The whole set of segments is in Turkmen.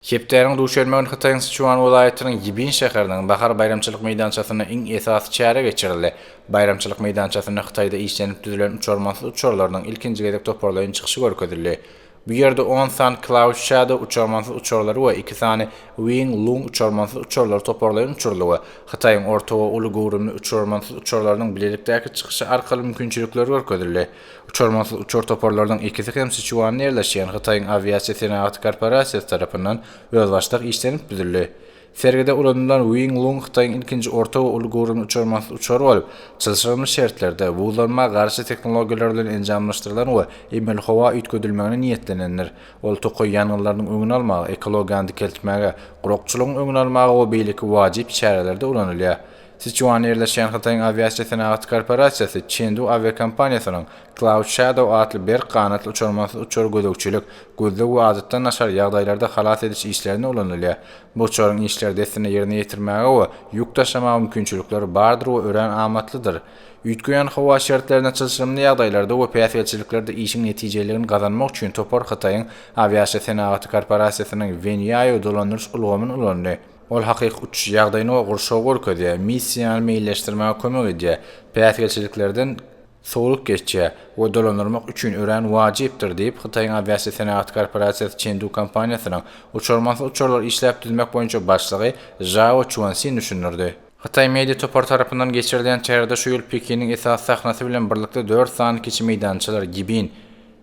Hepdäniň duşenbe güni Hytaýyň Siçuan welaýatynyň Ýibin şäheriniň Bahar baýramçylyk meýdançasynda iň esasy çäre geçirildi. Baýramçylyk meýdançasynda Hytaýda işlenip düzülen uçarmansyz uçarlarynyň ilkinji gezek toparlaýyn çykyşy görkezildi. Bu ýerde on sany Cloud Shadow uçarmansyz uçarlary we iki sany Wing Lung uçarmansyz uçarlary toparlaýyn uçuryldy we Hytaýyň orta we uly göwrümli uçarmansyz uçarlarynyň bilelikdäki çykyşy arkaly mümkinçilikleri görkezildi. Uçarmansyz uçar toparlarynyň ikisi hem Siçuanda ýerleşýän Hytaýyň awiasiýa senagaty korporasiýasy tarapyndan özbaşdak işlenip düzüldi. Sergide ulanylan Wing Lung Hytaýyň ilkinji orta we uly göwrümli uçarmansyz uçary bolup, çylşyrymly şertlerde, buzlanma garşy tehnologiýalar bilen enjamlaşdyrylan we emeli howa üýtgedilmegine niýetlenendir. Ol tokaý ýangynlarynyň öňüni almaga, ekologiýany dikeltmäge, gurakçylygyň öňüni almaga we beýleki wajyp çärelerde ulanylýar. Siçuanda ýerleşýän Hytaýyň awiasiýa senagat korporasiýasy Çendu awiakompaniýasynyň Cloud Shadow atly berk ganatly uçarmansyz uçary gözegçilik, gözleg we adatdan daşary ýagdaýlarda halas ediş işlerinde ulanylýar. Bu uçaryň işleri dessine ýerine ýetirmäge we ýük daşamaga mümkinçilikleri bardyr we örän amatlydyr. Üýtgeýän howa şertlerinde çylşyrymly ýagdaýlarda we päsgelçiliklerde işiň netijeliligini gazanmak üçin topar Hytaýyň awiasiýa senagaty korporasiýasynyň Wenýaýu dolandyryş ulgamyny ulandy. Ol hakyky uçuş ýagdaýyny we gurşawy görkezýär, missiýany meýilleşdirmäge kömek edýär, päsgelçiliklerden sowlulyk geçýär we dolandyrmak üçin örän wajypdyr, diýip, Hytaýyň awiasiýa senagaty korporasiýasy Çendu kompaniýasynyň uçarmansyz uçarlary işläp düzmek boýunça başlygy Žao Çuansin düşündirdi. Hytaý media topary tarapyndan geçirilýän çärede şu ýyl Pekiniň esasy sahnasy bilen birlikde dört sany kiçi meýdançalar, Gibin,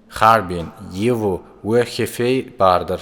Harbin, Ýiwu we Hefeý bardyr.